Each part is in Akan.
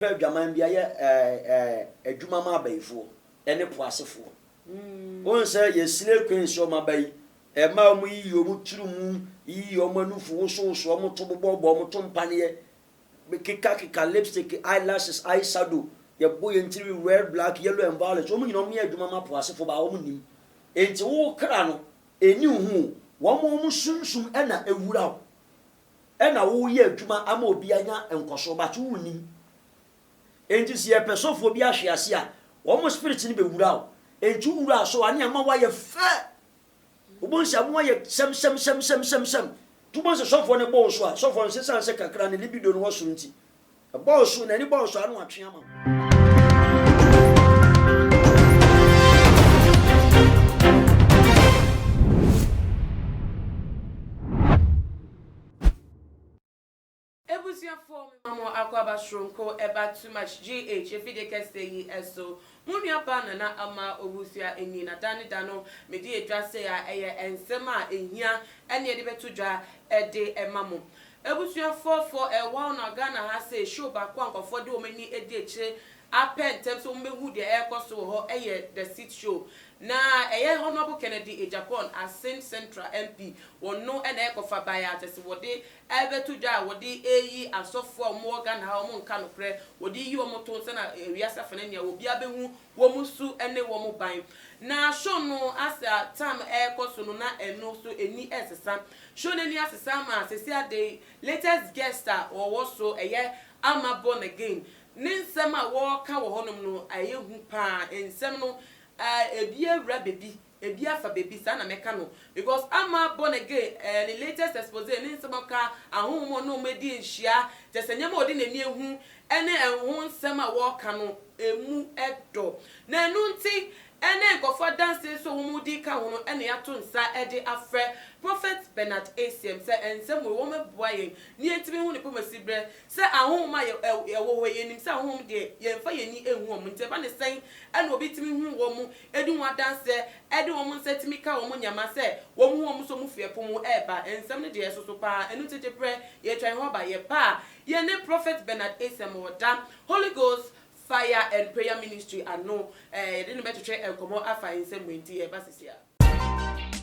Pɛ adwaman bi ayɛ adwuma ma abayifoɔ ne po asefoɔ. Wohu sɛ yɛ slay queens yi, wɔn abayi, mmaa a wɔyiyi wɔn tiri mu, yiyi wɔn anufu, wosowoso wɔn to, bobɔbobɔ wɔn to mpaneɛ, kekakeka lipstick, eyelashes, eyeshadow, yɛbɔ yɛn tiri red, black, yellow and violet, wɔn nyinaa wɔyɛ adwuma ma po asefoɔ baa wɔn nnim. Enti wo kra no, ɛnni wo ho o, wɔn wɔn sunsum na ɛwura wo. na woreyɛ adwuma ama obi anya nkɔso but wonnim. Enti sɛ yɛpɛ sɛ ɔfoɔ bi ahwe ase a, wɔn spirit no bɛwura wo. Enti wowura so a ne ɛma woayɛ fɛ. Wobɛhu sɛ ɛmo ayɛ sɛmsɛmsɛmsɛmsɛm. Nti wobɛhu sɛ sɔfoɔ no bɔ wo so a, sɔfoɔ no sɛ ɛsiane sɛ kakra no libido no wɔ soro nti, Ɛbɔɔ so, n'ani bɔɔ so ano atwe ama wo. Abusuafoɔ mema mo akwaaba soronko ɛba too much GH efidie kɛseɛ yi so Mo nua baa Nana Ama Owusu a enyin na da ne da no mede edwa sɛ a ɛyɛ nsɛm a ehia ɛne yɛde bɛto dwa ɛde ɛma mo abusuafoɔ fɔ ɛ wow na Ghana ha sei show baako a nkorɔfoɔ de wɔn ani adi akyire apɛ ntɛm sɛ wɔn bɛhu deɛ ɛrekɔ so wɔ hɔ ɛyɛ the seat show na ɛyɛ Honourable Kennedy Agyapong Asin Central MP wɔn no na ɛkɔfa baeɛ a kyɛsɛ wɔde Ɛbɛto dwa a wɔde reyi asɔfoɔ a wɔwɔ Ghana ha a wɔnka nokorɛ, wɔde reyi wɔn to nsa na wiase afa no ania obiara bɛhu wɔn su ne wɔn ban. Na show no as a time ɛrekɔ so no na ɛno nso ani resesa. Show no ani asesa ama seesei ade yi latest guest a ɔwɔ so ɛyɛ Ama Born Again. Ne nsɛm a wɔreka wɔ hɔnom no ɛyɛ hu pa ara. Nsɛm no ebi awura baabi Ebi afa baabi saa na mɛka no because ama born again ɛɛ ne latest expose ne nsɛm a ɔka ahonhom a ɔne wɔn adi nhyia kyerɛ sɛ nneɛma a ɔde n'ani ahu ɛne ɛho nsɛm a wɔka no ɛmu dɔ na ɛno nti ɛne nkorɔfoɔ adanseɛ nso a wɔn di ka ho no ɛna yɛato nsa ɛde afrɛ Prophet Bernard Asiam sɛ nsɛm wei wɔn boa yɛn na yɛntumi hu ne pɛ mu asiberɛ sɛ ahonhom a ɛwɔ hɔ yi yɛnim sɛ ahonhom deɛ yɛnfa yɛn ani nhu wɔn nti ɛba ne sɛn ɛna obi tumi hu wɔn di ho adanse de wɔn nsa tumi ka wɔn nneɛma sɛ wɔhu wɔn so mufo ɛpo mu reba. Nsɛm no deɛ ɛsoso pa ara. Ɛno nti gye berɛ, yɛretwɛn hɔ aba. Yɛba a, yɛne Prophet Bernard Asem wɔ da Holy Ghost Fire and Prayer Ministry ano. Yɛde no bɛtwetwe nkɔmmɔ afa nsɛm wei nti yɛreba seesei ara.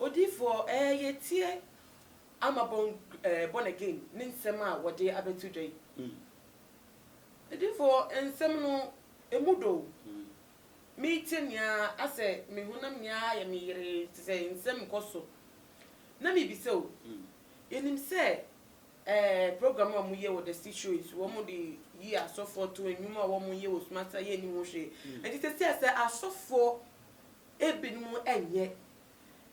Odiyifoɔ ɛɛ yɛtie ama born ɛɛ born again ne nsɛm a wɔde abɛto dwa yi. Odiyifoɔ nsɛm no ɛmu dɔ o. Metie no nyinaa asɛ me honam nyinaa ayɛ me yeree te sɛ nsɛm rekɔ so. Na mebisa o, yɛnim sɛ ɛɛ program a moyɛ wɔ the six show yi so wɔde yi asɔfoɔ to nnwuma a wɔyɛ wɔ sum ase a yɛnnim ho hwee. Ɛnti sɛsɛ asɛ asɔfoɔ ebinom nyɛ,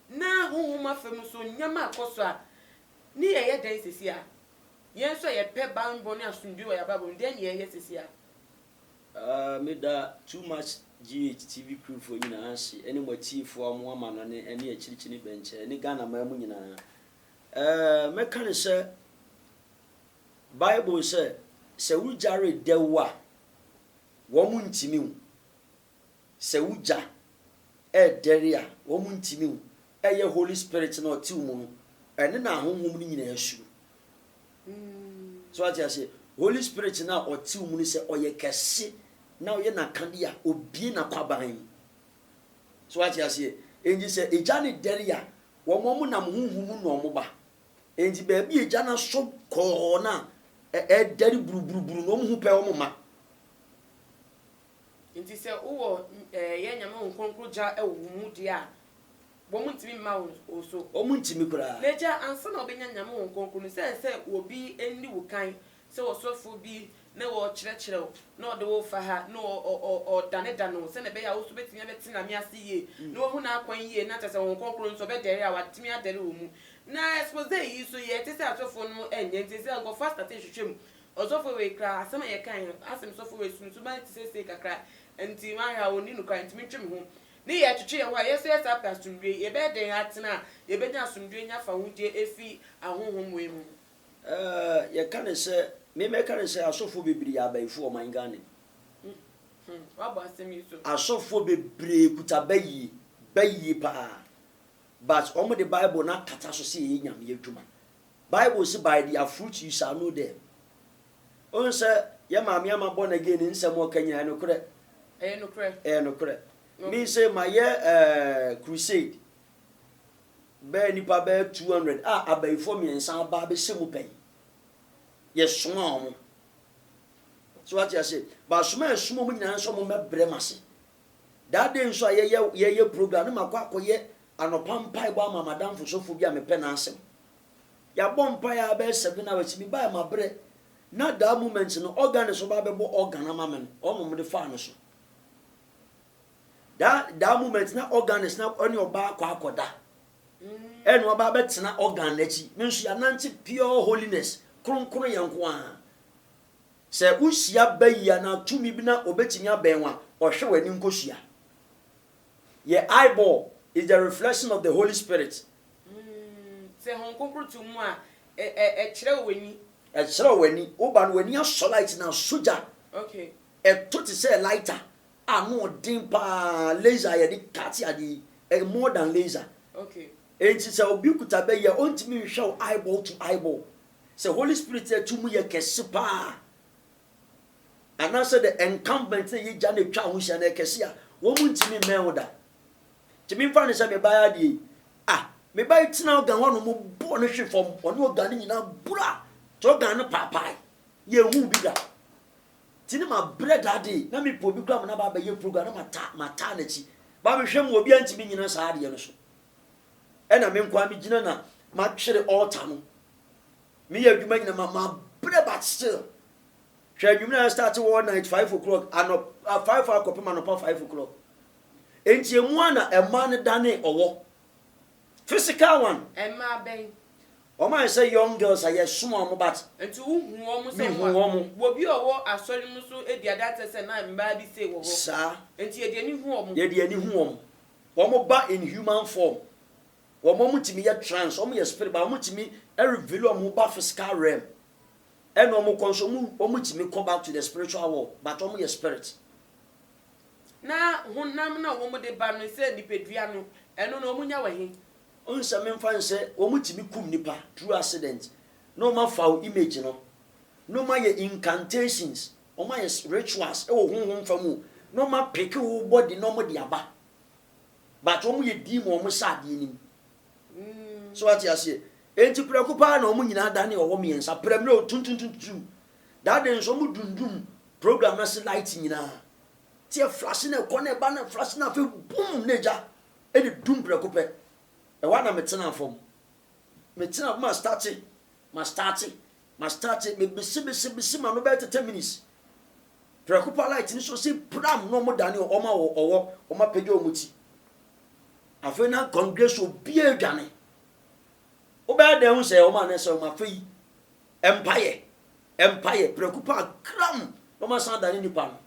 na honhom fam nso nneɛma rekɔ so a, ne yɛ yɛ dɛn seesei a? Yɛn nso a yɛpɛ banbɔ ne asomdwoe wɔ yɛn abrabɔ mu no, dɛn na yɛyɛ seesei a? Aah meda Too Much GH TV crew foɔ nyinaa ahye ɛne mo atiefoɔ a mo amanɔne ɛne akyirikyiri ne bɛnkyɛ ɛne Ghana man mu nyinaa ɛɛ mɛka ne sɛ Bible sɛ sɛ wo gya redɛw a wɔn ntimi wo Sɛ wo gya ɛɛdɛre a wɔn ntimi wo ɛyɛ holy spirit no a ɔte wo mu no ɛne na ahonhom no nyinaa suro so wate aseɛ holy spirit no a ɔte wo mu no sɛ ɔyɛ kɛse na ɔyɛ nakade a obie nakwaban mu so wate aseɛ enti sɛ egya ne dɛre a wɔn wɔn nam honhom mu na wɔn ba enti baabi egya no asɔ kɔɔ no a ɛɛdɛre buruburuburu na wɔn ho pɛ wɔn ma Ntsi sɛ wowɔ yɛn Nyame wo krɔnkrɔn gya wɔ wo mu deɛ a, bɔ mu ntimi mma wo so. Ɔmu ntimi koraa. Na gya ansa na wobɛnya Nyame wo krɔnkrɔn no, sɛ ɛsɛ sɛ obi nni wo kan, sɛ ɔsɔfoɔ bi na ɔkyerɛkyerɛ wo, na ɔde wo fa ha, na ɔdanedane wo, sɛdeɛ ɛbɛyɛ a wo nso wobɛtimi abɛte Nyame ase yie, na wahu n'akwan yie, na kyerɛ sɛ Honhom Krɔnkrɔn no nso ɔbɛdɛre a, watumi adɛre wɔ mu. Na expose yi nso, yɛte sɛ asɔfoɔ nom nyɛ, ntsi ɛsɛ sɛ nkorɔfoɔ astate hwehwɛ mu, Ɔsɔfo wei koraa asɛm a yɛkae no asɛm sɔfo wei sunsuma no te sɛ sei kakra nti mahwɛ a ɔnni nokware nti mentwe me ho ne yɛ twetwe yɛn ho a yɛsɛ yɛsan pɛ asomdwoe yɛbɛyɛ dɛn atena a yɛbɛnya asomdwoe nya fahodie afi ahonhom wei mu. Ɛɛ yɛka no sɛ me mɛka no sɛ asɔfoɔ bebree yɛ abayifoɔ wɔ ɔman Ghana mu. Hmmm wabɔ asɛm yi so. Asɔfoɔ bebree kuta bayie, bayie paa but wɔn de bible no akata so sɛ ɛyɛ Nyame adwuma Bible se by their fruit you shall know them. Wohu sɛ yɛ maame ama born again ne nsɛm a ɔka nyinaa ɛyɛ nokorɛ? Ɛyɛ nokorɛ. Ɛyɛ nokorɛ. Me se mayɛ eh, crusade bɛɛ nnipa bɛɛ 200 a abayifoɔ mmiɛnsa aba abɛhyɛ mu pɛ yi. Yɛsomaa wɔn. So wate aseɛ? Baasoma a yɛsomaa wɔn nyinaa nso wɔmmɛbrɛ m'ase. That day nso a yɛyɛ yɛyɛ program no makɔ akɔyɛ anɔpa mpaebɔ ama m'adamfo sɔfo bi a mepɛ n'asɛm. Yɛabɔ mpaeɛ a bɛyɛ seven hours, mebaeɛ mabrɛ, na that moment no organist ɔba abɛbɔ organ ama me no, ɔno na wɔde faa no so. That, that moment na organist na ɛne ɔba akɔ akɔda. Ɛne ɔba abɛtena organ n'akyi. Me nso yɛanante pure holiness, kronkron yɛ nko ara. Sɛ wohyia bayi anaa tumi bi na obetumi abɛn wo a, ɔhwɛ w'ani nkosua. Yɛ eyeball is the reflection of the Holy Spirit. Sɛ Hon Kronkron to mu a, ɛkyerɛw w'ani. Ɛkyerɛw w'ani. Woba no w'ani asɔ light na asɔ gya. Ɛtɔ te sɛ lighter a ano ɔden paa, laser a yɛde cut ade yi, ɛyɛ more than laser. Enti sɛ obi kuta bayi a, ontumi nhwɛ wo eyeball to eyeball. Sɛ Holy Spirit a tumi yɛ kɛse paa anaasɛ the incumbent na yɛ gya na etwa ho hyia na ɛkɛse a, wɔn ntumi mmɛn wo da. Tumi mfa no sɛ me ba adeɛ yi, ah, me ba yi tena ɔgan hɔ nom bɔɔ no hwe fam, ɔne ɔgan no nyinaa bura, te ɔgan no paapaae, yɛ ehu bi da. Ti ne ma brɛ da de, na me pɛ obi kura ma na ba abɛyɛ program na ma taa ma taa n'akyi. Ba me hwɛ mu obi antumi nyina saa adeɛ no so. Ɛna me nko ara me gyina na ma twere altar no. Me yɛ adwuma nyina ma ma brɛ but still. Hwɛ anwummerɛ a start all night five o'clock anɔpa five akɔpem anɔpa five o'clock. Enti emu a na ɛmaa no danee ɔwɔ. Physical one. Ɛmaa bɛn? Wɔn ayɛ sɛ young girls a yɛ som wɔn but. Nti wo hu wɔn sɛ wɔn a. Me hu wɔn. Wɔ bi a ɔwɔ asɔre no mu nso di adanseɛ sɛ na mmaa bi sei wɔ hɔ. Saa. Nti yɛ de ani hu wɔn. Yɛ de ani hu wɔn. Wɔba in human form. Wɔn wɔn tumi yɛ trance, wɔn yɛ spirit but wɔn tumi reveal wɔn ho ba physical realm. Ɛna wɔn kɔ nso wɔn wɔn tumi kɔ back to the spiritual world but wɔn yɛ spirit. Na honam na wɔn de ba no sɛ nipadua no, ɛno no wɔn nya wɔ he? Wohu sɛ menfa no sɛ wɔn tumi kum nipa through accident na wɔn afa wo image no na wɔn ayɛ incantations. Ɔmo ayɛ rituals wɔ honhom fam o, na ɔmo apeke wo body na ɔmo de aba, but ɔmo yɛ diim a ɔmo sɛ adeɛ nim. So wate aseɛ? Enti prɛko paa na ɔmo nyinaa danee ɔwɔ mmiɛnsa, prɛm na otuntuntuntu. That day nso ɔmo dundum program no ase light nyinaa, te ɛflash na ɛkɔ na ɛba na ɛflash na afei boom na egya na edum prɛko pɛ. Ɛhɔ ara na me tenaa fam. Me tenaa fam a starte, ma starte, Ma start me bisi bisi bisi ma no bɛyɛ tɛtɛ minutes prɛko pa light ni so si pram na ɔmo dane ɔmo ma wɔ ɔwɔ ɔmo apɛgya ɔmo ti afei na congregation obiara dwane wobɛyɛ dɛn ho sɛ ɔmo anɛ sɛ ɔmo afei mpaeɛ mpaeɛ prɛko pa kram na ɔmo asan dane nipa no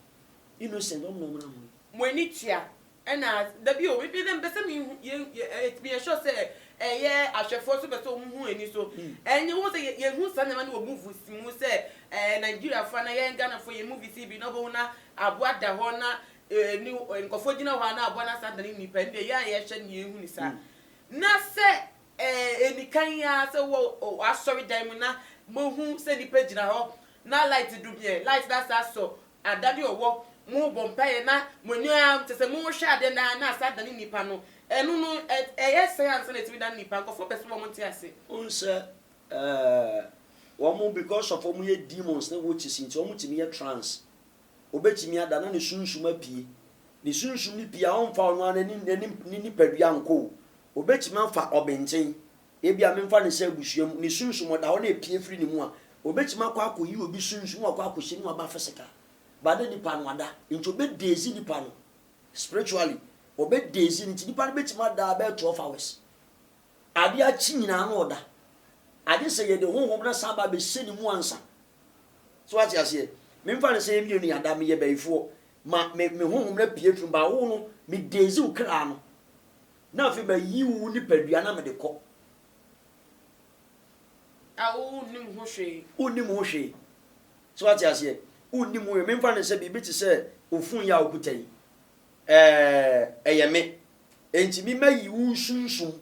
Innocent ɔmo na ɔmo na hɔn. Mo ani tua ɛna dabi o me dɛ mepɛ sɛ me hu yɛ yɛ me yɛ sure sɛ ɛyɛ ahwɛfoɔ nso pɛ sɛ ɔmo hu ani so ɛnyɛ wɔn sɛ yɛ hu saa nneɛma no wɔ movies mu sɛ ɛɛ Nigeriafoɔ anaa yɛn Ghanafoɔ yɛ movies yi bi na ɔbɛhu na aboa da hɔ na ɛɛ ne nkorɔfoɔ gyina hɔ a na aboa no asan adane nipa ɛndeɛ yɛ a yɛhwɛ no yɛ nhu no saa na sɛ Ɛɛ, enikan yi ara sɛ wowɔ o w'asɔredan mu na moahu sɛ nnipa gyina hɔ na light dum yɛn, light no asan asɔ, Ada ne ɔwɔ, morebɔ mpaeɛ na mo ani ara kyerɛ sɛ morehwɛ adeɛ no ara na asan adane nnipa no, ɛno no ɛ ɛyɛ sɛn ansa na atumi adane nnipa? Nkurɔfoɔ pɛ sɛ wɔn nte ase. Wohu sɛ, ɛɛ, wɔn because of wɔyɛ demons ne witches nti wɔtumi yɛ trance obetumi ada na ne sunsum apue. Ne sunsum no pue a, ɔremfa ɔno ara ne ne ne nipadua nkɔ o. Obetumi afa ɔbenkyen, ebia memfa no sɛ abusua mu, ne sunsum ɔda hɔ na epue firi ne mu a, obetumi akɔ akɔyi obi sunsum na wakɔ akɔhyɛ ne mu aba physical. But na nipa no ada, nti obedezi nipa no spiritually. Obedezi no nti nipa no betumi ada bɛyɛ twelve hours Ade akye nyinaa na ɔda. Agye sɛ yɛde honhom no asan aba abɛhyɛ ne mu ansa. So wate aseɛ? Memfa no sɛ yɛn mmienu yɛn ada, meyɛ bayifoɔ, ma me me honhom no apue afiri mu, but wo no, me daze wo kra no, na afei mayi wo nipadua na mede kɔ. A wonnim ho hwee. Wonnim ho hwee. So wate aseɛ? Wonnim ho hwee. Memfa no sɛ biribi te sɛ wo fon yi a wokuta yi. Ɛɛ, ɛyɛ me. Enti me mɛyi wo nsunsum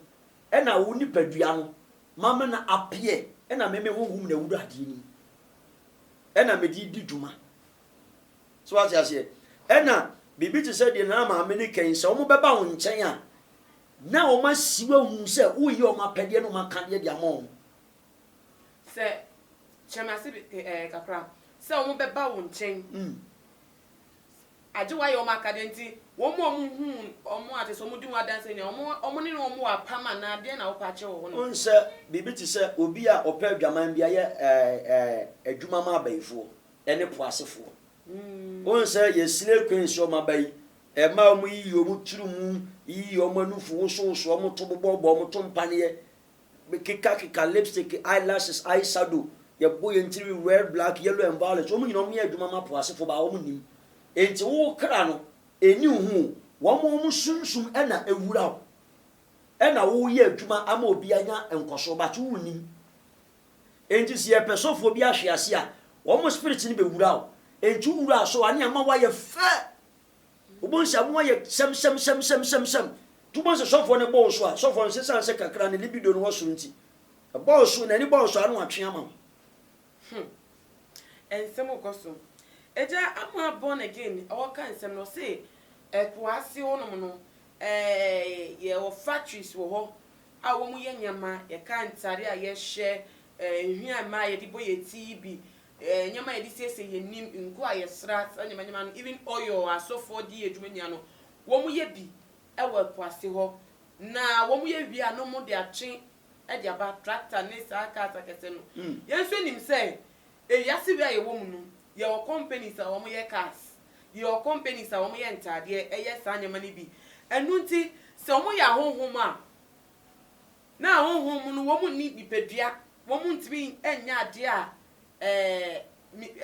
na wo nipadua no mama no apeɛ na me me honhom na ɛwura adeɛ no mu na mede redi dwuma. So wate aseɛ? Ɛna biribi te sɛ deɛ Nana Maame no kɛn sɛ wɔn bɛba wo nkyɛn a na wɔn asi wo ahu sɛ woyɛ wɔn apɛdeɛ na wɔn aka deɛ de ama wɔn. Sɛ, kyerɛ me ase bi, ɛɛ, kakra, sɛ wɔn bɛba wo nkyɛn. Mm. Agye wɔayɛ wɔn akade nti, wɔn a wɔhu wɔn ate sɛ wɔdi ho adanse nea wɔn ne wɔn wɔ apam anaa deɛn na wopɛ akyerɛ wɔ hɔ no. Wohu sɛ biribi te sɛ obi a ɔpɛ adwaman bi ayɛ adwuma ma abayifoɔ ne po asefoɔ. Wohu sɛ yɛ slay queens yi, wɔn aba yi, mmaa a wɔyiyi wɔn tiri mu, yiyi wɔn anufu, wosowoso wɔn to, bobɔbobɔ wɔn to mpaneɛ, Me keka keka lipstick, eye lashes, eye shadow, yɛ bɔ yɛn tiri, red, black, yellow and violet, wɔn nyina wɔn yɛ adwuma ma po ase fo baa wɔn nim, enti wo kra no ɛni wo ho o, wɔn wɔn sunsum ɛna ɛwura wo, ɛna wo yɛ adwuma ama obi anya nkɔsoɔ but wo nim, enti sɛ yɛ pɛ sɛ ɔfoɔ bi ahwe ase a wɔn spirit no bɛ wura wo, enti wo wura so a ne ɛma wo ayɛ fɛ. Wobɛhu sɛ amo ayɛ sɛmsɛmsɛmsɛmsɛm. Nti wobɛhu sɛ sɔfoɔ no bɔ wo so a, sɔfoɔ no sesane sɛ kakra ne libido no wɔ soro nti, ɛbɔ wo so, n'ani bɔ wo so a, na watwe ama wo. Hmm. Nsɛm kɔ so. Agya Amoa born again ɔɔka nsɛm no ɔse ɛpoase hɔ nom no yɛwɔ factories wɔ hɔ a wɔn yɛ nneɛma yɛka ntare a yɛhyɛ nhwi a mmaa yɛde bɔ yɛn ti yi bi Eh, nneɛma a yɛde siesie yɛn anim, ngo a yɛsra, saa nneɛma nneɛma no, even oil a asɔfoɔ de yɛ adwuma nyinaa no, wɔyɛ bi wɔ ɛpo ase hɔ. Na wɔyɛ wie a na wɔde atwe de aba, tractor ne saa cars akɛseɛ no. Yɛn nso nim sɛ ewiase wei a yɛwɔ mu no, yɛwɔ companies a wɔyɛ cars, yɛwɔ companies a wɔyɛ ntaadeɛ, ɛyɛ saa nneɛma no bi. Ɛno nti, sɛ wɔyɛ ahonhom a. Na honhom mu no, wɔn nni nipadua, wɔn ntumi nyɛ adeɛ a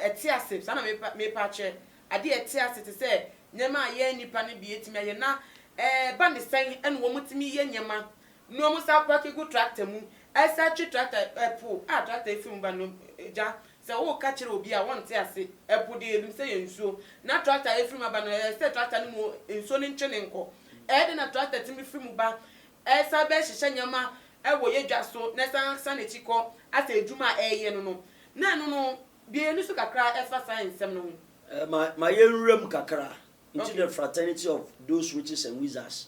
ɛte ase, saa na merepɛ akyerɛ, adeɛ a ɛte ase te sɛ nneɛma a yɛn nnipa no bi tumi ayɛ, na ɛba ne sɛn na wɔtumi yɛ nneɛma, na wɔsan apaake gu tractor mu, ɛsan atwe tractor, ɛpo a tractor firi mu ba no, gya, sɛ woreka kyerɛ obi a, ɔnte ase, ɛpo deɛ yɛnim sɛ yɛ nsuo, na tractor a ɛfiri mu aba no, ɛyɛ sɛ tractor no mu nsuo no ntwe no nkɔ, ɛyɛ dɛn na tractor tumi firi mu ba, Ɛsan bɛhyehyɛ nneɛma wɔ yɛn dwa so na ɛsan san n'akyi kɔ asɛ adwuma a ɛreyɛ no no. Na ɛno no, bue yɛn ani so kakra fa saa nsɛm no ho. Ma ma yɛnwura mu kakra. Nti The Fraternity of Those Witches and Wizards,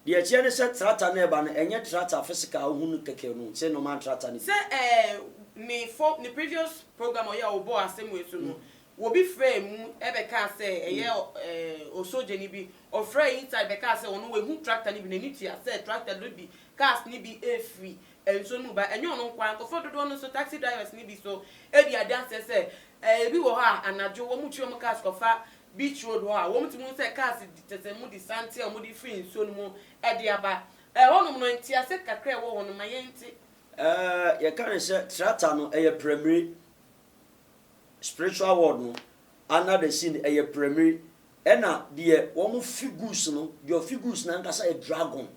deɛ ɛteɛ ne sɛ trata no a ɛreba no, ɛnyɛ trata physical a wohu no kɛkɛ no, sɛ normal trata no bi. Sɛ ɛɛ ne fo ne previous program a ɔyɛ a ɔbɔɔ asɛm wei so no, Obi frɛɛ mu bɛkaa sɛ ɛyɛ osogyani bi. Ɔfrɛɛ inside bɛkaa sɛ ɔno wahu tractor no bi, n'ani tua sɛ tractor no redi cars no bi refiri nsuo no mu ba. Ɛnyɛ ɔno nko ara, nkorɔfoɔ dodoɔ no nso, taxi drivers no bi nso di adanseɛ sɛ ebi wɔ hɔ a anadwo wɔtwi wɔn cars kɔfa beach road hɔ a, wɔtumi hu sɛ cars tetɛ mu de sante a wɔde firi nsuo no mu de aba. Ɛhɔnom no, ntease kakra a ɛwɔ hɔ no ma yɛnte. Yɛka no sɛ tractor no yɛ prɛmire Spiritual world no under the sea no ɛyɛ prɛmire ɛna deɛ wɔn figures no deɛ figures no ankasa yɛ dragon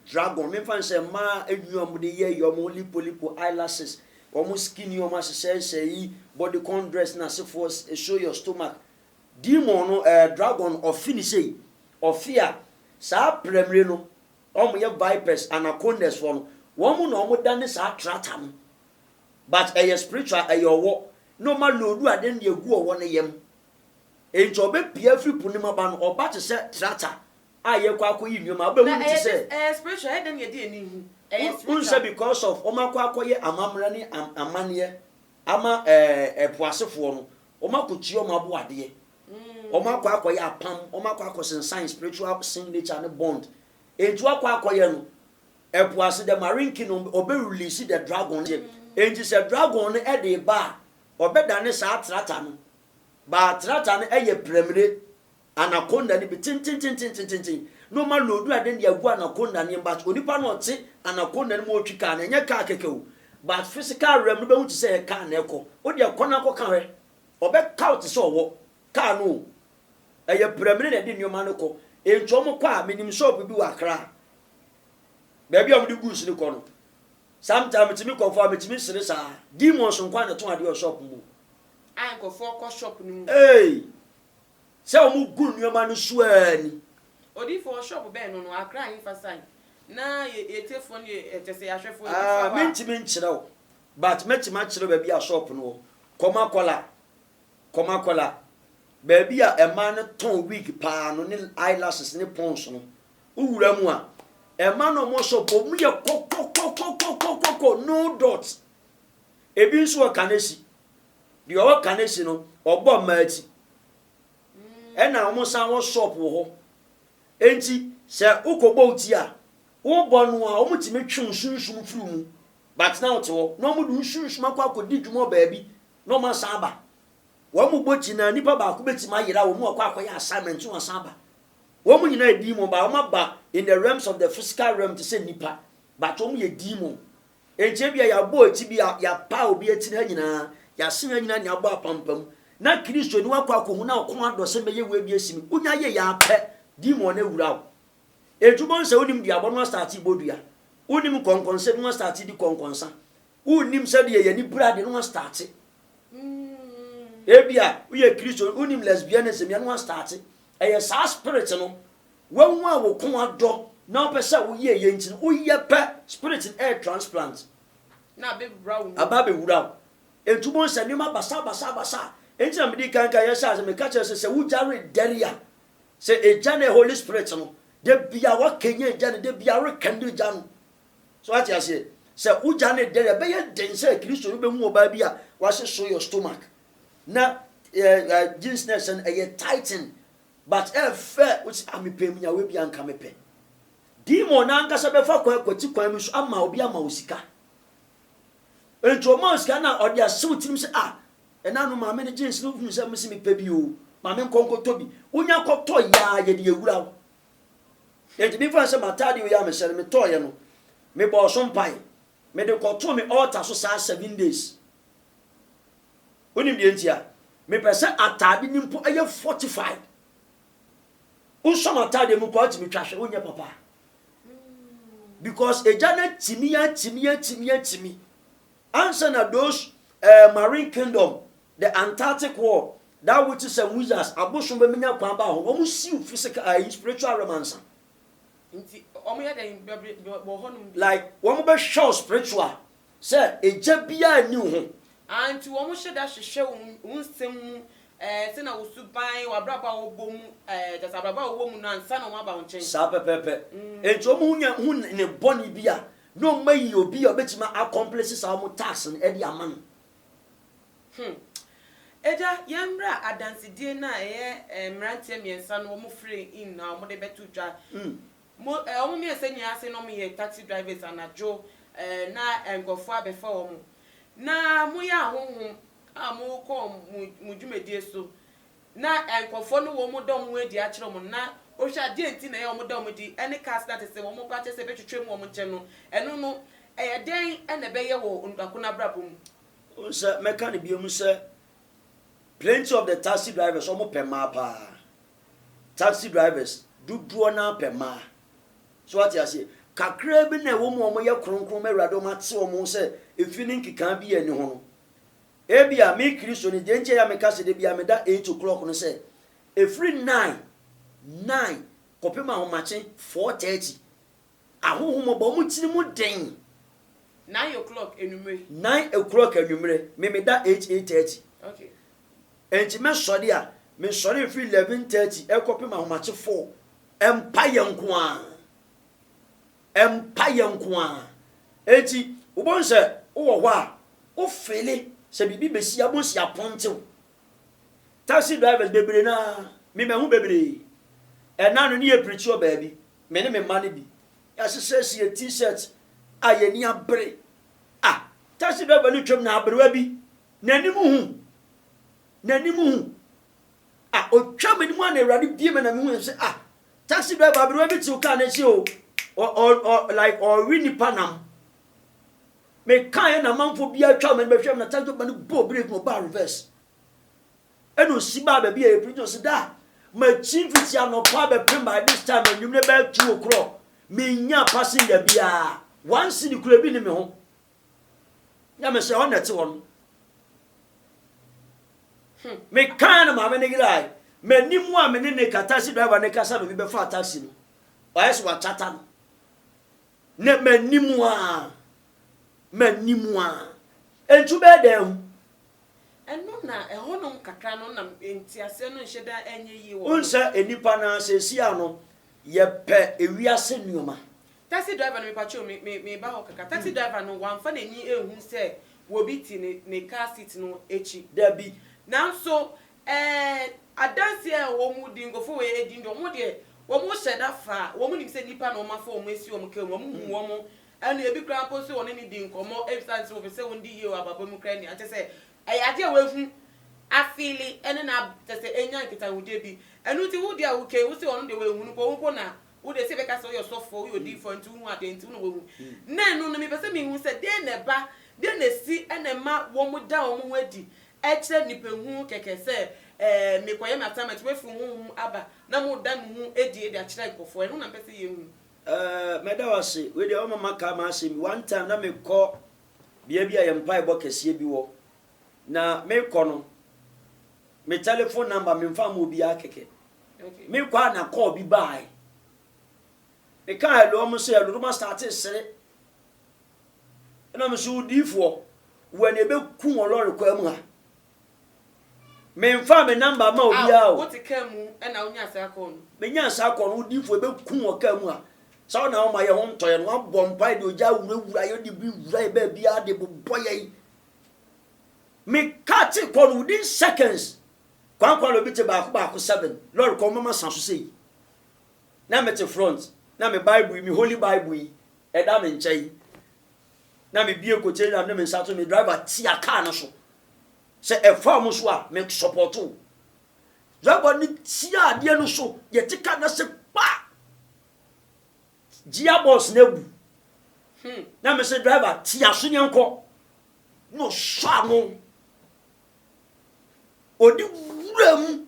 dragon mefa no sɛ mmaa enwi a wɔn de yɛ yɛ wɔn lipo lipo eyelashes wɔn skin yi wɔn ahyehyɛhyɛ yi body con dress na asefoɔ show your stomach demon no ɛɛ eh, dragon ɔfi ne sei ɔfi a saa prɛmire no wɔn yɛ vipers anacondas foɔ no wɔn na wɔn da ne saa trata no but ɛyɛ spiritual ɛyɛ ɔwɔ na ɔma loadu ade no de agu ɔwɔ no yam enti ɔbɛpia afiri po no mu aba no ɔba te sɛ tractor a yɛkɔ akɔyi nneɛma a wobɛhu no te sɛ ɛyɛ spiritual ɛyɛ dɛn na yɛde ani hu ɛyɛ spiritual wohu sɛ because of wɔakɔ akɔyɛ amammerɛ ne amanneɛ ama ɛɛ po asefoɔ no wɔakɔtua wɔn aboadeɛ wɔakɔ akɔyɛ apam wɔakɔ akɔsensan spiritual signature ne bond enti wɔakɔ akɔyɛ no Ɛpo ase dɛ ma renki no ɔbɛ release the dragon no gye enti sɛ dragon no ɛde ba a ɔbɛ dane saa trata no baa trata no ɛyɛ prɛmire anaconda no bi tentententententen na ɔma loadu ade no de agu anaconda no yɛm but onipa no ɔte anaconda no mu ɔtwi car no ɛnyɛ car kɛkɛ o but physical realm no bɛhu te sɛ ɛyɛ car na ɛkɔ wode ɛkɔ no akɔ ka hwɛ ɔbɛ kaw te sɛ ɔwɔ car no o, ɛyɛ prɛmine na ɛde nnoɔma no kɔ, enti wɔn kɔ a, menim shop bi wɔ Accra, baabi a wɔde goods no kɔ no, sometime metumi kɔ faa, metumi sere saa, demons nko ara na ɛtɔn adeɛ wɔ shop mu. A nkurɔfoɔ kɔ shop no mu. Ei! Sɛ wɔn gu nnoɔma no so ara ni. Odiyifoɔ wɔ shop bɛn no no, Accra ahefa side, na yɛ yɛ tiefoɔ no yɛ ɛ kyerɛ sɛ yɛ ahwɛfoɔ nti fa Ah, hɔ a. mentumi nkyerɛ wo, but mɛtumi akyerɛ wo baabi a shop no wɔ, kɔma kɔla, Komakola, baabi a mmaa no tɔn wig paa no ne eyelashes ne pons no, wowura mu a, mmaa no a wɔsɔ bɔ mu yɛ kɔkɔkɔkɔkɔkɔkɔ, no dot. Ebi nso wɔ Kanesi. Deɛ ɔwɔ Kanesi no, ɔbɔ mmaa ti. Ɛna wɔsan wɔ shop wɔ hɔ. Enti sɛ wokɔbɔ wo ti a, wobɔ no a, wɔtumi twe wo sunsum firi mu. But na wote hɔ na wɔde wo sunsum akɔ akɔdi dwuma wɔ baabi na wɔn asan aba. Wɔn mu bɔ gyinaa nipa baako betumi ayera wɔn mu akɔ akɔyɛ assignment na wasan aba. Wɔn mu nyinaa yɛ demon but wɔn aba in the realms of the physical realm te sɛ nipa but wɔn yɛ demon. Enti ebia yɛabɔ akyi bi a yɛapaa obi atiri ha nyinaa, yɛasen ha nyinaa na yɛabɔ apampam. Na Kristoni wakɔ akɔhu na ɔko adɔ sɛ mɛyɛ wei bi asi me. Wonya yɛ yɛ apɛ demon no awura wo. Enti wobɛhu sɛ wonim duabɔ no astate bɔ dua. Wonim nkɔnkɔnsɛ bi ho astate di kɔnkɔnsa. Wonnim sɛdeɛ yɛn anibra de no astate. Ebia woyɛ Kristoni, wonnim lesbianism yɛ no astate. Ɛyɛ saa spirit no, wahu a wo ko adɔ na wopɛ sɛ woyɛ ɛyɛ nti no, woyɛ pɛ, spirit no ɛyɛ transplant. Aba abɛwura wo. Enti wobɛhu sɛ nneɛma basabasabasa. Enti na mede kan kan yɛhyɛ ase, meka kyerɛ sɛ, sɛ wogya redɛre a, sɛ egya no yɛ Holy Spirit no, da biara woakanyan egya no, da biara worekɛndle egya no. So wate aseɛ? Sɛ wogya no dɛrɛ, ɛbɛyɛ den sɛ Kristoni bɛhu ɔbaa bi a wahye soyɔ stomach na ɛɛ jeans na ɛhyɛ no ɛyɛ tighten but ɛyɛ fɛ wosi ah mepɛ mu nyawe bi anka mepɛ. Demon no ankasa bɛfa kwan kwati kwan bi so ama obi ama wo sika. Nti ɔma wo sika na ɔde asew tirim sɛ ah ɛna no maame no jeans no hunu sɛ mesi mepɛ bi o maame nkɔ nkɔtɔ bi wonya kɔtɔ yaa yɛde awura wo Enti me faa nsam ataade wei a mehyɛ no, metɔɔeɛ no, me bɔɔ so mpae. Me de kɔ too me altar so saa seven days. Wonim deɛ nti a? Me pɛ sɛ ataade no mpo yɛ fortified. Wosɔ m'ataadeɛ mu kɔ a, wotumi twa hwɛ, wonyɛ papa. Because agya no atimi, atimi, atimi, atimi. Ansa na those eh, marine kingdom, the Antarctic world, that witches and wizards, abosom bɛmenya kwan baa hɔ no, wɔn siw physical eh, spiritual realm ansa. Nti wɔn yɛ dɛn bɛbrɛ wɔ hɔnom bi? Like wɔn bɛhwɛ wo spiritual sɛ egya biara nni wo ho. Ah, nti wɔn hyɛ da hwehwɛ wo, wo nsɛm mu eh, sɛnea wo suban, w'abrabɔ a wɔbɔ mu eh, kyerɛ sɛ abrabɔ a wɔwɔ mu no ansa na wɔn aba wo nkyɛn. Saa pɛpɛɛpɛ. Mm. Nti wɔn ho nya ho nnebɔne bi a Na wɔn ayi obi a ɔbɛtumi a accomplish saa wɔn task no de ama no. Hmm. Agya, yɛn mmra adansedie no a ɛyɛ eh, mmeranteɛ mmiɛnsa no wɔn firi in a wɔn de bɛto dwa. Mm. Mo, eh, wɔn mmiɛnsa nyinaa ase na wɔn yɛ taxi drivers anadwo eh, na eh, nkurɔfoɔ abɛfa wɔn. Na mo yɛ ahonhom a mo kɔ mo, mo dwumadie so na nkorɔfoɔ no wɔn da wɔn adi akyerɛ wɔn no na wohwɛ a deɛ nti na ɛyɛ wɔn da wɔn adi ɛne cas na tesɛ wɔn kɔ akyerɛ sɛ ɛbɛtwetwam wɔn nkyɛn no ɛno no ɛyɛ dɛn na ɛbɛyɛ wɔ onipa ko no abrabɔ mu. Wohu sɛ mɛka no bio mu sɛ plenty of the taxi drivers wɔn pɛ mmaa paa taxi drivers dodoɔ naa pɛ mmaa so wate aseɛ kakraa bi na ɛwɔ mu wɔn yɛ kronkron ma awurade wɔn ate wɔn ho sɛ efi ne nkekaa bi yɛ ne ho no Ebia me Kristoni deɛ nti a ɛyɛ a meka sɛ da biara meda eight o'clock no sɛ, ɛfiri nnan, nnan, kɔpem ahomakye, four thirty, ahohomɔbɔ, wɔn tiri mu den. Nine o'clock anwummere. Nine o'clock anwummere, me meda eight, eight thirty. Okay. Enti mɛsɔre a, mesɔre mfiri eleven thirty ɛkɔpem ahomakye four, mpaeɛ nko ara. Mpaeɛ nko ara. Enti wobɛhu sɛ wowɔ hɔ a, wo feele sɛ biribi bɛsi a, wobɛhu sɛ yɛapɔnte wo. Taxi drivers bebree no ara, me mahu bebree. Ɛna no ne yɛ preachi wɔ baabi, me ne me mma no bi. Yɛahyehyɛhye yɛ T-shirt a yɛn ani abere. Ah, taxi driver no twam na aberewa bi, n'anim hu, n'anim hu. Ah, ɔtwaa m'anim a na Awurade bue me na mehu sɛ ah, Taxi driver aberewa bi tew kaa n'akyi o, ɔ ɔ ɔ like ɔrewe nipa nam. Mekaeɛ na amanfoɔ bi atwa mɛ bɛhwɛ m na taxi driver no bɔɔ break na ɔbaa reverse. Ɛna ɔsi baa baabi a yɛ preach na ɔsi da makyi fiti anɔpa bɛpem by this time anwummerɛ bɛyɛ two o'clock mennya passenger biara one cedi kura bi ne me ho. Nyamesɛ hɔ na ɛte hɔ no. Hmm. Mekaa no maame no yere ae. M'anim a me ne ne ka taxi driver ne kasa na obi bɛfaa taxi no. Wayɛ sɛ wakyata no. Na m'anim a m'anim a ɛntu bɛɛ dɛn ho. Ɛno na ɛhɔnom kakra no na nteaseɛ no nhyɛ da ɛnyɛ yie wɔ. Wonsɛ nnipa no asɛsi a no yɛpɛ ewiase nneɛma. Taxi driver no, Mepakyɛw, me, me, meba hɔ kakra. Taxi driver no, wamfa n'ani anhu sɛ obi te ne, ne car seat no akyi. Dabi. Nanso, ɛɛ, adanse a wɔn di, nkurɔfoɔ wei adi no deɛ, wɔn deɛ, wɔhyɛ da fa a, wɔnim sɛ nnipa na wɔafa wɔn asi wɔn car mu, wɔhu wɔn, ɛna ebi koraa mpo nso wɔne no di nkɔmmɔ esiane sɛ wɔpɛ sɛ wɔdi yie wɔ abrabɔ mu koraa nti. Kyerɛ sɛ, ɛyɛ adeɛ a wahu, afeele, ɛne no ab, kyerɛ sɛ, anya nkitahodie bi. Ɛno nti, wo deɛ a wokei, wose ɔno deɛ wanhu no mpo, wo mpo na Wo de, sɛ yɛbɛka sɛ woyɛ ɔsɔfoɔ, woyɛ odiyifoɔ a, enti wohu adeɛ, enti wo na woahu. Nnɛ, ɛno no, mepɛ sɛ mehu sɛ deɛn na ɛba, deɛn na ɛsi na ɛma wɔda wɔn ho adi kyerɛ nnipa hunu kɛkɛ sɛ, ɛɛ, merekɔyɛ m'assignment, woafiri wo honhom mu aba na moreda mo ho adi de akyerɛ nkurɔfoɔ. Ɛno na mepɛ sɛ yɛhu. Ɛɛ, mɛda wo ase. Wei deɛ, wama maka m'asɛm bi. One time, na mekɔ bea bi a yɛn mpaebɔ kɛseɛ bi wɔ, na merekɔ no, Me telephone number me nfa ma obiara kɛkɛ. Me kɔ a na call bi baae. Me ka hello ɔmo se hello na ɔmo astate sere. Ɛna me so odiifoɔ wɔ na ebe ku wɔ lɔre kwan mu ha. Me nfa me number ma obiara o. Ah, wote kaa mu ɛna wonya saa call no? Me nya saa call no odiifoɔ ebe ku wɔ kaa mu ha. Saa ɔna ɔma yɛ ho ntɔyɛ no wabɔ mpae de ogya awurawura yɛ de bi wura yɛ baabiara de bobɔ yɛn. Me car te kɔ no within seconds Kwankwa na obi te baako baako seven lɔre kɔ mama sa so sei na me te front na me bible yi me holy bible yi ɛda me nkyɛn na me bie kote na me nsa to me driver tia car no so sɛ ɛfa ɔmo so a me support o driver no tia adeɛ no so yɛte car na se kpa gearbox na abu hmm. na me se driver tia so yɛn kɔ na ɔsɔ ano. Ɔde wuram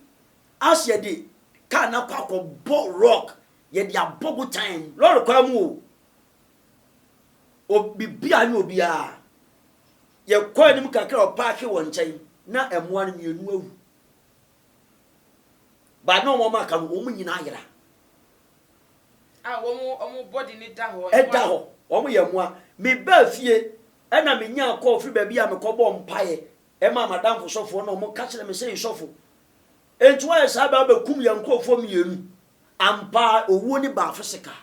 as yɛde kaa no akɔ akɔbɔ rock, yɛde abɔ botan, lɔre kwan mu o, biribiara ne obiara. Yɛkɔɔ anim kakra a ɔpaake wɔ nkyɛn, na mmoa no mmienu awu. Ba ne wɔn a aka no, wɔn nyinaa yera. A wɔn wɔn body no da hɔ. Ɛda hɔ, wɔn yɛ mmoa. Mebaa fie ɛna menyaa call firi baabi a mekɔbɔɔ mpaeɛ ɛmaa m'adamfo sɔfoɔ na wɔn ka kyerɛɛ me sɛ Nsɔfo, enti woayɛ saa baa bɛkum yɛn nkorɔfoɔ mmienu. Ampa ara owuo no baa physical.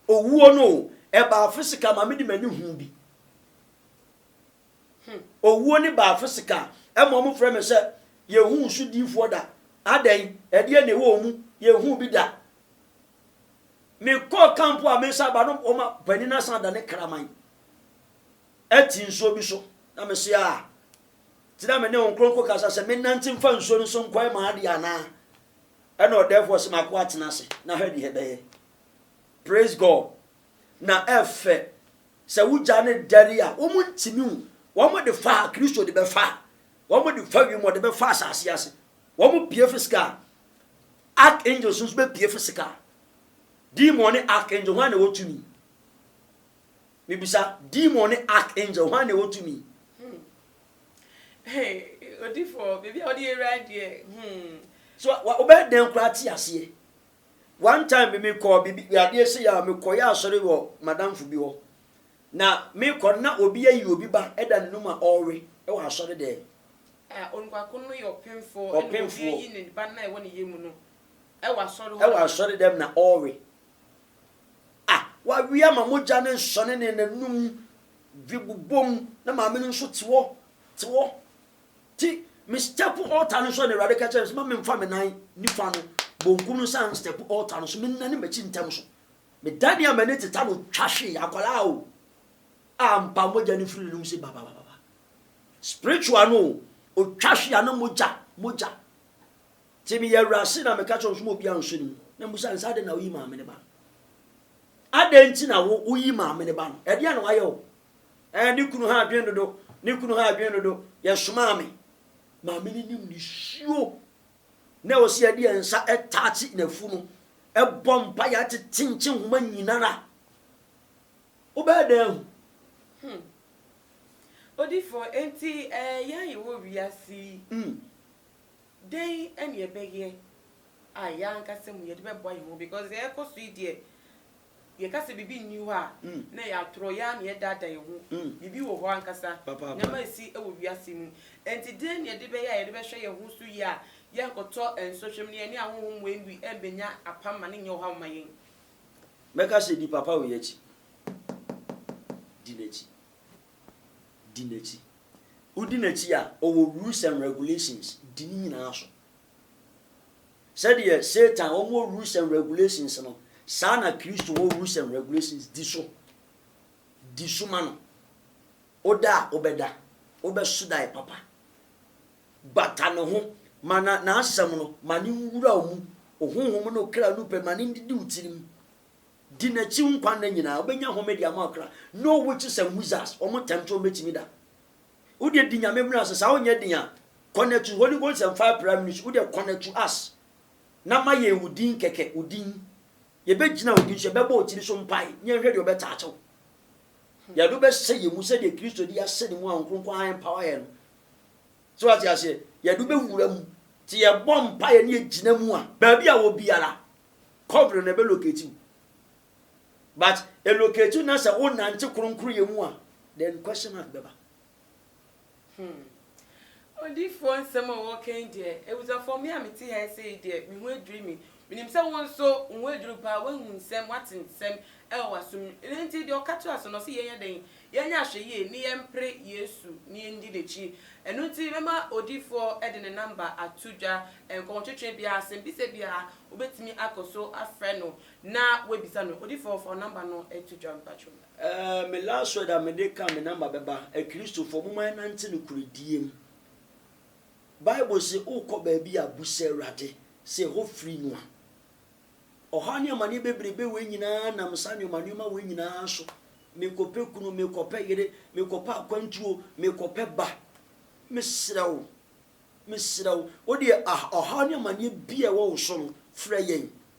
Owuo no o, ɛbaa physical ma mede m'ani huu bi. Hmm. Owuo ne baa physical. Ɛma ɔmo frɛ me sɛ yɛnhuu so diifoɔ da. Adɛn? Ɛdeɛ na ɛwɔ wɔn mu. Yɛnhuu bi da. Me kɔɔ camp a me san ba no ɔma panin no asan da ne kraman ɛte nsuo bi so. Na me se aa. Ti na me ne wɔn kronko kasa sɛ me nante mfa nsuo no so nkɔɛ maa adeɛ anaa. Ɛna ɔdɛɛfoɔ se mako atena ase. Na hwɛ deɛ ɛbɛyɛ. Praise God. na ɛfɛ, sɛ wogya no dɛre a, wɔn ntumi wu. Wɔn de fa a Kristo de bɛfa a, wɔn de fa wiem, wɔde bɛfa asase ase. Wɔn pie fisika a, archangels nso bɛpie fisika. Demon ne archangel, hwan na ɛwɔ tumi? Mibisa, demon ne archangel, hwan na ɛwɔ tumi? Hmm. Hey, odifo, biribi a wɔde yɛ wura deɛ, hmm. So, wobɛyɛ dɛn koraa te aseɛ? One time bi mekɔɔ biribi adeɛ sei a mekɔyɛ asɔre wɔ madamfo bi hɔ na mekɔ no na obi ayi obi ba da n'anum a ɔrewe wɔ asɔre dɛm. A, onuakono no yɛ ɔpemfoɔ ɛna obi Ɔpemfoɔ. ayi ne ba no a ɛwɔ ne yɛ mu no wɔ asɔre hɔ. wɔ asɔre dɛm na ɔrewe. A, wawe ama mogya no nsɔne ne n'anum bi bobom na maame no nso te hɔ te hɔ Nti me stɛpo altar no so a na Awurade ka kyerɛɛ me sɛ ma memfa me nan nifa no bonkum no nsan nstɛpo altar no so, mennane m'akyi ntɛm so. Medanee a m'ani teta no twa hwee, akwadaa o, a ampa mogya no firi n'anom se bababababa. Spiritual no o, ɔtwa hwee a na mogya, mogya. Nti meyɛ awurase na meka kyerɛ wɔn sɛ ma obiara nso ne mu. Na mebisa no sɛ adɛn na woyi maame no ba no? Adɛn nti na wo, woyi maame no ba no? Ɛdeɛn na wayɛ wo? Ɛɛ ne kunu ha adwen dodo ne kunu ha adwen dodo yɛ somaa me. Maame no nim ne suo na ɛwɔ sɛ yɛde yɛn nsa taakye n'afu no ɛbɔ mpa yɛ atete nkye nhoma nyinara wobɛyɛ dɛn ahu. Hmm. Odifo, enti ɛɛ yɛn a yɛwɔ wiase yi, mm. dɛn ɛne ɛbɛyɛ a yɛn ankasa mu yɛde bɛboa yɛn ho because ɛɛkɔ so yi deɛ Yɛka sɛ biribi nni hɔ a, na ɛyɛ atorɔ, yɛn ara na yɛdaadaa yɛn ho. Biribi wɔ hɔ ankasa, nneɛma resi wɔ wiase mu. Enti dɛn na yɛde bɛyɛ a yɛde bɛhwɛ yɛn ho so yie a yɛrenkɔtɔ nsɔhwɛ mu na yɛne ahonhom wei bi remmɛnya apam ma no nyɛ ɔhaw mma yɛn? Mɛka sɛ, Di papa wei akyi. Di n'akyi. Di n'akyi. Wodi n'akyi a, ɔwɔ rules and regulations, di ne nyinaa so. Sɛdeɛ Satan wɔn wɔ rules and regulations no, saa na Kristo wɔ rules and regulations, di so. Di so ma no. Woda a, wobɛda. Wobɛso daeɛ papa. Bata ne ho. Ma na, n'asɛm no, ma no nwura wo mu. Wo honhom ne wo kra no pɛ, ma no ndidi wo tirim. Di n'akyi wo nkwa nna nyinaa, wobɛnya home de ama wo kra. Know witches and wizards, wɔn tɛmtwe wɔn bɛtumi da. Wo deɛ di Nyame mmra so saa wonyɛ den a connect to Holy Ghost and fire pra ministry wo deɛ connect to us na ma yɛn wo din kɛkɛ wo din yɛbɛgyina wo din so yɛbɛbɔ wo tiri so mpae ne yɛnhwɛ deɛ ɔbɛtaakye wo yɛde wobɛhyɛ yɛn mu sɛdeɛ Kristo de ahyɛ ne mu a Nkronkron ha empower yɛn no so wate aseɛ yɛde wobɛwura mu te yɛbɔ mpaeɛ ne yɛgyina mu a baabi a wɔ biara covering na ɛbɛlocate wo but elocate na sɛ wo nante kronkronyɛ mu a then question mark bɛba. Hmm. Odiyifoɔ nsɛm a wɔka yi deɛ, awusafoɔ me a mete ha sɛ yi deɛ, me ho adwiri me. Menim sɛ wo nso, wo ho adwiri wo paa, woahu nsɛm, woate nsɛm wɔ w'asom mu. Ɛno nti, deɛ ɔka toa so no, ɔse yɛnyɛ dɛn? Yɛnyɛ ahwɛyie ne yɛmpere Yesu ne yɛndi n'akyi. Ɛno nti, mɛma odiyifoɔ de ne namba ato dwa, nkɔmɔtwetwe biara, asɛmbisa biara, wobɛtumi akɔ so afrɛ no Na w'abisa no odifoɔ fa wo number no to dwa mpakyɛw. Ɛɛ me last word a me de ka me number bɛba akristofoɔ momma yɛ nante nokorɛdie mu bible se wokɔ baabi a busa awurade sɛ ɛhɔ firi mu a ɔhaw ne amaneɛ bebrebe wei nyinaa nam saa nneɛma nneɛma wei nyinaa so mekɔpɛ kunu mekɔpɛ yere mekɔpɛ akwantuo mekɔpɛ ba mesrɛ wo mesrɛ wo wodeɛ ɔhaw ne amaneɛ bi a ɛwɔ wo so no frɛ yɛn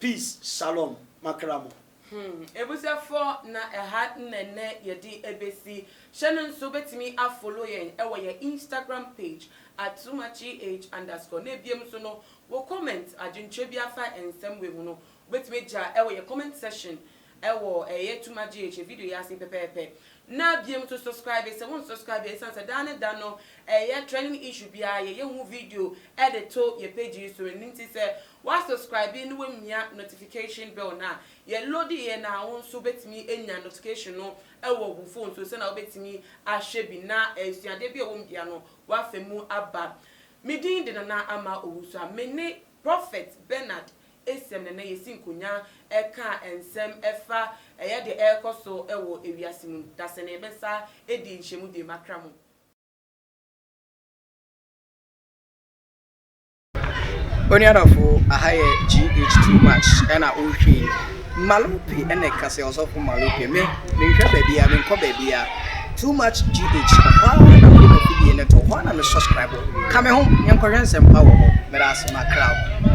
Peace shalom makra mo. Hmm abusuafoɔ na ɛha na nnɛ yɛde ɛbɛsi, hyɛ no nso wobɛtumi a follow yɛn wɔ yɛn Instagram page at Sumacheeh underscore na ɛbiom nso no wo comment adwenkyerɛ biara fa nsɛm wei ho no wobɛtumi agya wɔ yɛn comment section Ɛwɔ ɛyɛ too much GH video yi ase yi pɛpɛɛpɛ na biem nso subscribe sɛ wo nsubscribe a ɛsiane sɛ daa ne da no ɛyɛ trending issue biara yɛyɛ ho video de to yɛ page yi so ɛno nti sɛ wa subscribe na wamia notification bell no a yɛ load yɛ no a wo nso wobɛtumi anya notification no wɔ wo phone so sɛnea wobɛtumi ahwɛ bi na asuadeɛ bi a ɛwɔ mu biara no wafa mu aba me din de Nana Ama Owusu a me ne Prophet Bernard esiam na na yesi nkonyaa ɛka nsɛm ɛfa ɛyɛ deɛ ɛrekɔ so ɛwɔ ewiase mu no dasɛ na yɛbɛsa edi nhyɛmu bio makra mu. Onua dɔfo aha yɛ GH too much ɛna ɔretwa yi Malope ɛna ɛka sɛ ɔsɔfo Malope me menhwɛ baabia menkɔ baabia too much GH ɔhɔ a na mede mafidie no to hɔ a na me subscribe ka me ho yɛnkɔhwɛ nsɛmpa wɔ hɔ meda ase makra wo.